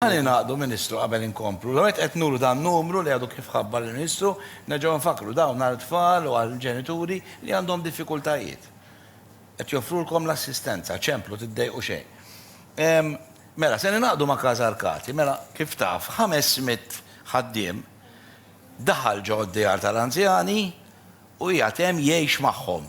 Ħa ningħaqdu, Ministru, qabel inkomplu. L-ewwel nett qed nuru dan numru li għadu kif ħabbar il-Ministru, nerġgħu nfakkru, dawn għal tfal u għal ġenituri li għandhom diffikultajiet. Qed joffrulkom l-assistenza, ċemplu, tiddejqu xejn. Ehm, mela, se ningħaqdu ma' Casa Arcati, mela, kif taf, ħames mitt ħaddiem daħal ġo d-djar tal-anzjani u qiegħed hemm jgħix magħhom.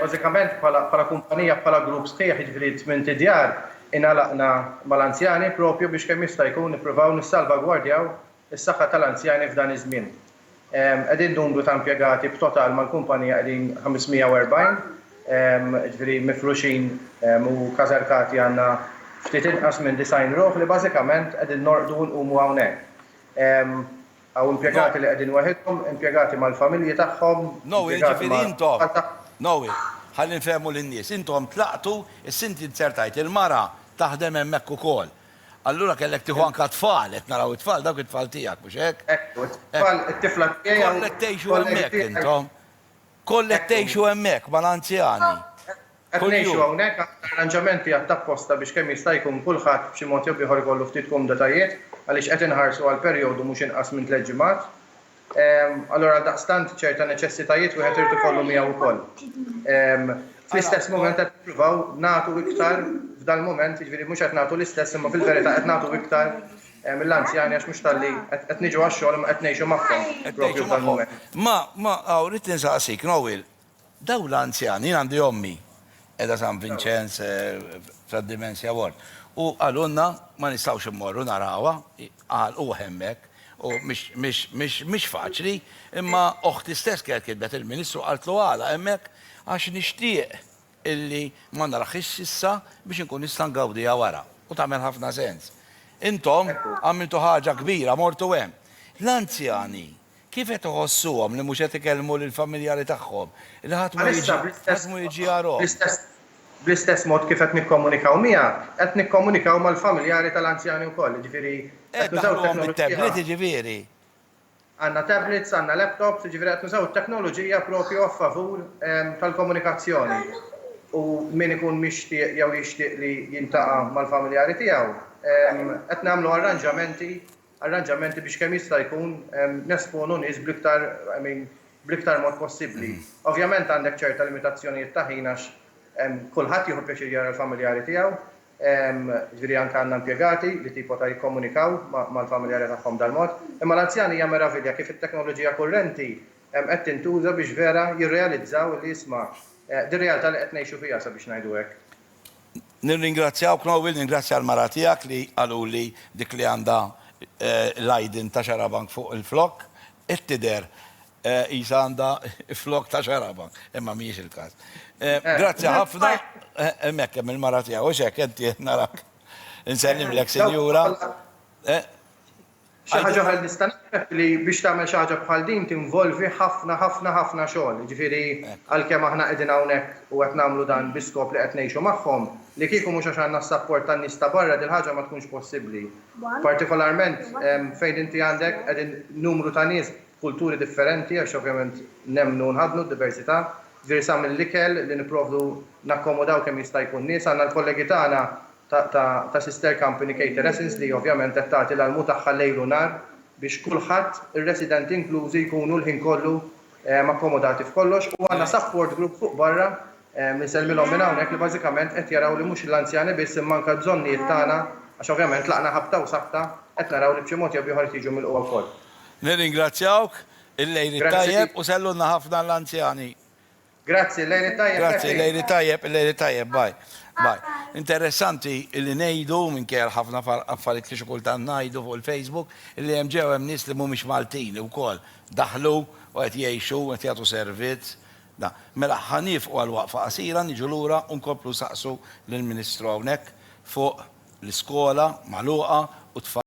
Bażikament bħala kumpanija, bħala grupp sħiħ, jiġifieri tmien tidjar, ingħalaqna mal-anzjani proprju biex kemm jista' jkun nippruvaw nissalvagwardjaw is-saħħa tal-anzjani f'dan iż-żmien. Qegħdin numru ta' impjegati b'total mal-kumpanija qegħdin 540, jiġifieri mifruxin u każerkati għandna ftit inqas minn 90 ruħ li bażikament qegħdin norqdu u nqumu hawnhekk. Hawn impjegati li qegħdin waħidhom, impjegati mal-familji tagħhom, impjegati ma' tfal tagħhom. Noe, jiġifieri intom, ħalli nfehmu lin-nies, intom tlaqtu, issa inti ddeżertajt, il-mara taħdem hemmhekk ukoll. Allura kellek tieħu anke t-tfal, qed naraw it-tfal, dawk it-tfal tiegħek, mhux hekk? Ekku, t-tfal, it-tifla tiegħi hawn. Kollha qed tgħixu hemmhekk intom? Kollha qed tgħixu hemmhekk mal-anzjani? Qed ngħixu hawnhekk għandna arranġamenti għadd apposta biex kemm jista' jkun kulħadd b'xi mod jew b'ieħor ikollu ftit kumditajiet għaliex qed inħarsu għal perjodu mhux inqas minn tliet ġimgħat. Allura għaldaqstant ċerta neċessitajiet wieħed irid ikollu miegħu wkoll. Fl-istess mument qed nippruvaw nagħtu iktar f'dal-mument, jiġifieri mhux qed nagħtu l-istess imma fil-verità qed nagħtu iktar mill-anzjani għax mhux talli qed niġu għax-xogħol imma qed ngħixu magħhom propju f'dal-mument. Ma, ma, aw, rrid insaqsik, Noel, Dawn l-anzjani, jien għandi ommi qiegħda San Vinċenz f'Dementia Ward, u qalulna ma nistgħux immorru narawha, għalquh hemmhekk, u mhix faċli, imma oħti stess kienet kitbet il-Ministru qaltlu għala hemmhekk, għax nixtieq illi ma naraħiex issa biex inkun nista' ngawdiha wara, u tagħmel ħafna sens. Intom għamiltu ħaġa kbira mortu hemm. L-anzjani Kif qed iħossuhom li mhux qed ikellmu lill-familjari tagħhom, li ħadd ma jiġi, ħadd mhu jiġi jarahom? Bl-istess mod kif qed nikkomunikaw miegħek, qed nikkomunikaw mal-familjari tal-anzjani wkoll, jiġifieri qed nużaw it-teknoloġija. Qed ndaħħluhom bit-tablet, jiġifieri? Għandna tablets, għandna laptops, jiġifieri qed nużaw it-teknoloġija proprju a favur tal-komunikazzjoni. U min ikun mixtieq jew jixtieq li jiltaqa' mal-familjari tiegħu, qed nagħmlu arranġamenti arranġamenti biex kemm jista' jkun nesponu nies bl-iktar, I mean, bl-iktar mod possibbli. Ovvjament għandek ċerta limitazzjonijiet ta' ħin għax kulħadd jieħu pjaċir jara l-familjari tiegħu, jiġifieri anke għandna impjegati li tipo ta' jikkomunikaw mal-familjari tagħhom b'dan mod. Imma l-anzjani hija meravilja kif it-teknoloġija kurrenti qed tintuża biex vera jirrealizzaw li isma' din realtà li qed ngħixu fiha sabiex ngħidu hekk. Nirringrazzjawk Noel, ningrazzja l-mara tiegħek li qaluli dik li għandha l-għajdin ta' xarabank fuq il-flokk, qed tidher qisha għandha flokk ta' xarabank, imma mhijiex il-każ. Grazzi ħafna, hemmhekk hemm il-mara tiegħu, hux hekk, inti narak. Insellmlek Sinjura. Xi ħaġa oħra li nista' naqrab li biex tagħmel xi ħaġa bħal din tinvolvi ħafna ħafna ħafna xogħol. Jiġifieri għalkemm aħna qegħdin hawnhekk u qed nagħmlu dan bi skop li qed ngħixu magħhom, li kieku mhux għax għandna s-sapport tan-nies ta' barra din il-ħaġa ma tkunx possibbli. Partikolarment fejn inti għandek qegħdin numru ta' nies b'kulturi differenti għax ovvjament nemmnu u nħaddnu d-diversità, jiġifieri sa mill-ikel li nipprovdu nakkomodaw kemm jista' jkun nies. Għandna l-kollegi tagħna ta' sister company Cater Essence li ovvjament qed tagħti l-almu tagħha lejl u nhar biex kulħadd, ir-residenti inklużi, jkunu l-ħin kollu akkomodati f'kollox u għandna support group fuq barra li nsellmilhom minn hawnhekk li bażikament qed jaraw li mhux l-anzjani biss imma anke l-bżonnijiet tagħna għax ovvjament tlaqna ħabta u sabta qed naraw li b'xi mod jew b'ieħor qed jiġu milqugħa wkoll. Nirringrazzjawk, il-lejl it-tajjeb u sellulna ħafna l-anzjani. Grazzi, lejl it-tajjeb Grazzi, Catherine. lejl it-tajjeb, lejl it-tajjeb, bye, bye. Interessanti li ngħidu, minkejja l-ħafna far- affarijiet li xi kultant ngħidu fuq il-Facebook, li hemm ġew hemm nies li mhumiex Maltin li wkoll daħlu u qed jgħixu, qed jagħtu servizz. Da. Mela, ħa niefqu għal waqfa qasira, niġu lura u nkomplu nsaqsu lill-Ministru hawnhekk fuq l-iskola magħluqa u t-tfal.